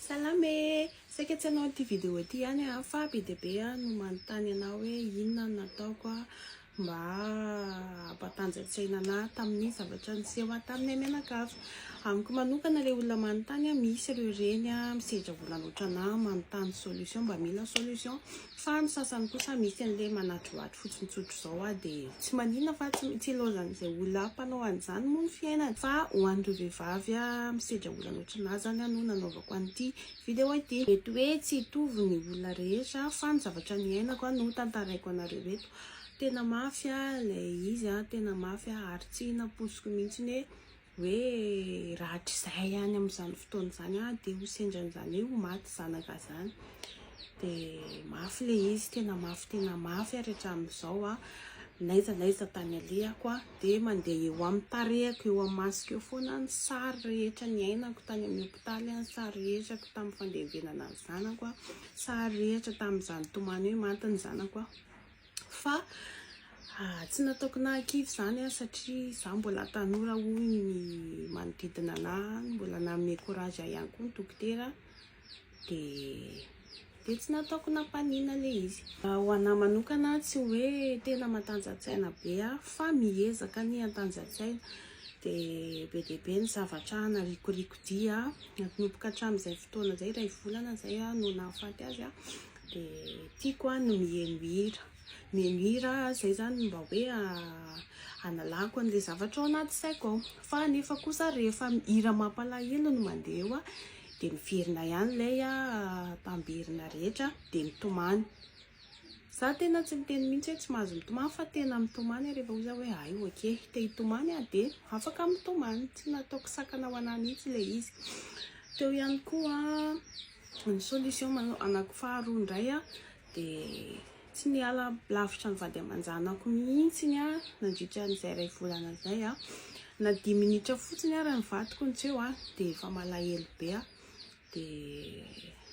Salama e! Saika tsy hanao an'ity video ity ihany aho fa be dia be no manontany anà hoe inona no nataoko mba hampatanjantsaina anà tamin'ny zavatra niseho ahy taminay mianakavy. Amiko manokana ilay olona manontany, misy ireo reny misedra olana ohatranà manontany solution, mba mila solution. Fa ny sasany kosa misy anle manadrohadro fotsiny tsotra izao ah de tsy manina fa tsy tsy ilaozan'izay olona mpanao an'izany moa ny fiainany fa ho an'ireo vehivavy ah misedra olona loatra na zany ah no nanaovako an'ity video ity. Mety hoe tsy hitovy ny olona rehetra fa ny zavatra niainako ah no tantaraiko anareo eto. Tena mafy ah ilay izy ah tena mafy ah ary tsy nampoiziko mihitsiny hoe hoe raha hatrizay any amin'izany fotoana izany aho dia ho sendra an'izany hoe ho maty zanaka izany dia mafy le izy tena mafy tena mafy ary hatramin'izao a naiza naiza tany alehako a dia mandeha eo amin'ny tarehako eo amin'ny masoko eo foana ny sary rehetra ny ainako tany amin'ny hopitaly ny sary rehetrako tamin'ny fandevenana ny zanako a sary rehetra tamin'izany tomany hoe maty ny zanako a fa tsy nataoko nahakivy izany aho satria izaho mbola tanora hoy ny manodidina anahy, mbola nanome courage ahy ihany koa ny dokotera dia dia tsy nataoko nampanina ilay izy. Ho anahy manokana tsy hoe tena matanjantsaina be aho fa miezaka ny hantanjantsaina dia be dia be ny zavatra narikoriko dia nanomboka hatramin'izay fotoana izay iray volana izay aho no nahafaty azy aho dia tiako an ny miheno hira, miheno hira izay izany mba hoe hanalako an'ilay zavatra ao anaty saiko ao, fa nefa kosa rehefa hira mampalahelo no mandeha eo an, dia miverina ihany ilay tamberinà rehetra dia mitomany, za tena tsy miteny mihintsy hoe tsy mahazo mitomany fa tena mitomany aho rehefa ohatra hoe hay ok te hitomany aho dia afaka mitomany, tsy nataoko sakana ho anà mihintsy ilay izy, teo ihany koa an. Ny solution manao anako faharoa indray a de tsy miala lavitra ny vady aman-janako mihitsy ny a nandritra an'izay iray volana izay a na dimy minitra fotsiny ary ny vadiko no tsy eo a de efa malahelo be a de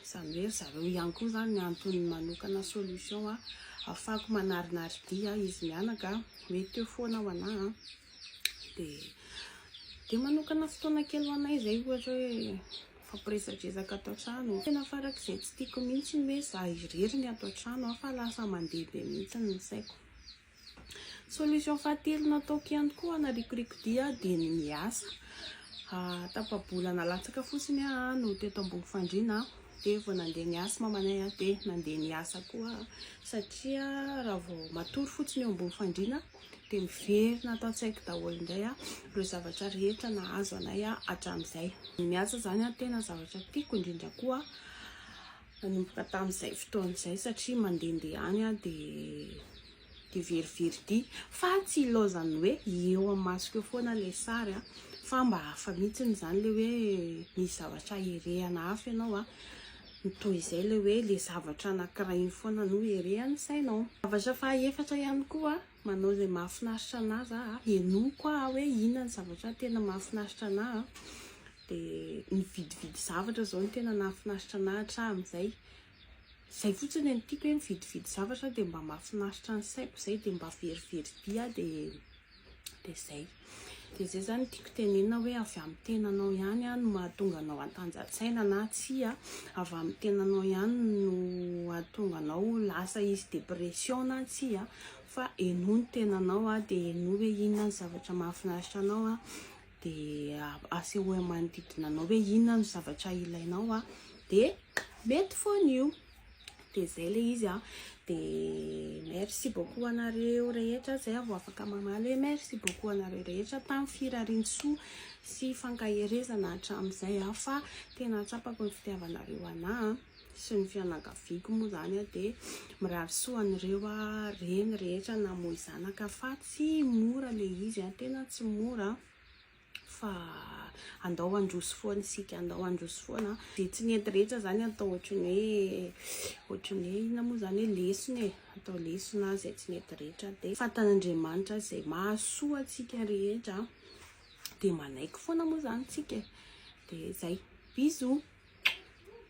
izany hoe ry zareo ihany koa izany ny antony manokana solution a afako manarinaridia izy mianaka hoe teo foana ho anà a de de manokana fotoana kely ho anay izay ohatra hoe Fampiresadresaka ato an-trano. Tena farak'izay tsy tiako mihitsy ny hoe za irery ny ato an-trano fa lasa mandeha be mihitsy ny saiko. Solution fahatelo nataoko ihany koa hanarikoriko dia dia ny miasa. Tapa-bola nalatsaka fotsiny aho no teto ambony fandriana dia vao nandeha ny asy mamanay dia nandeha niasa koa aho satria raha vao matory fotsiny eo ambony fandriana dia miverina ato an-tsaiko daholo indray ireo zavatra rehetra nahazo anay hatramin'izay. Ny miasa izany tena zavatra tiako indrindra koa nanomboka tamin'izay fotoana izay satria mandehandeha any dia dia verivery ity fa tsy ilaozan'ny hoe eo amin'ny masoko eo foana ilay sary fa mba hafa mihitsy izany ilay hoe misy zavatra herehana hafa ianao a. ny toy izay ilay hoe ilay zavatra anankiray iny foana no erehan'ny sainao. Zavatra faha efatra ihany koa, manao izay mahafinaritra anà zà a, henoy koa aho hoe inona ny zavatra tena mahafinaritra anà a, dia nividividy zavatra izao no tena nahafinaritra anà hatramin'izay, izay fotsiny e, ny tiako hoe mividividy zavatra dia mba mahafinaritra ny saiko izay dia mba verivery vy aho dia. Dia izay. Dia izay izany no tiako tenenina hoe avy amin'ny tenanao ihany no mahatonga anao hantanja-tsaina na tsia. Avy amin'ny tenanao ihany no hahatonga anao ho lasa hisy dépression na tsia. Fa henoy ny tenanao dia henoy hoe inona ny zavatra mahafinaritra anao. Dia asehoy amin'ny manodidina anao hoe inona no zavatra ilainao. Dia mety foana io. dia zay le izy an dia merci beaucoup anareo rehetra zay vao afaka mamaly hoe merci beaucoup anareo rehetra tamin'ny firariantsoa sy fankaherezana hatramin'izay an fa tena atsapako ny fitiavanareo anà sy ny fianakaviako moa zany an dia mirary soa an'ireo an reny rehetra namoy zanaka fa tsy mora le izy an tena tsy mora fa andao handroso foana isika, andao handroso foana, dia tsy nety rehetra izany atao ohatry ny hoe ohatry ny hoe inona moa izany hoe lesona e, atao lesona izay tsy nety rehetra, dia fantan'Andriamanitra izay mahasoa antsika rehetra, dia manaiky foana moa izany isika e, dia izay, bisous.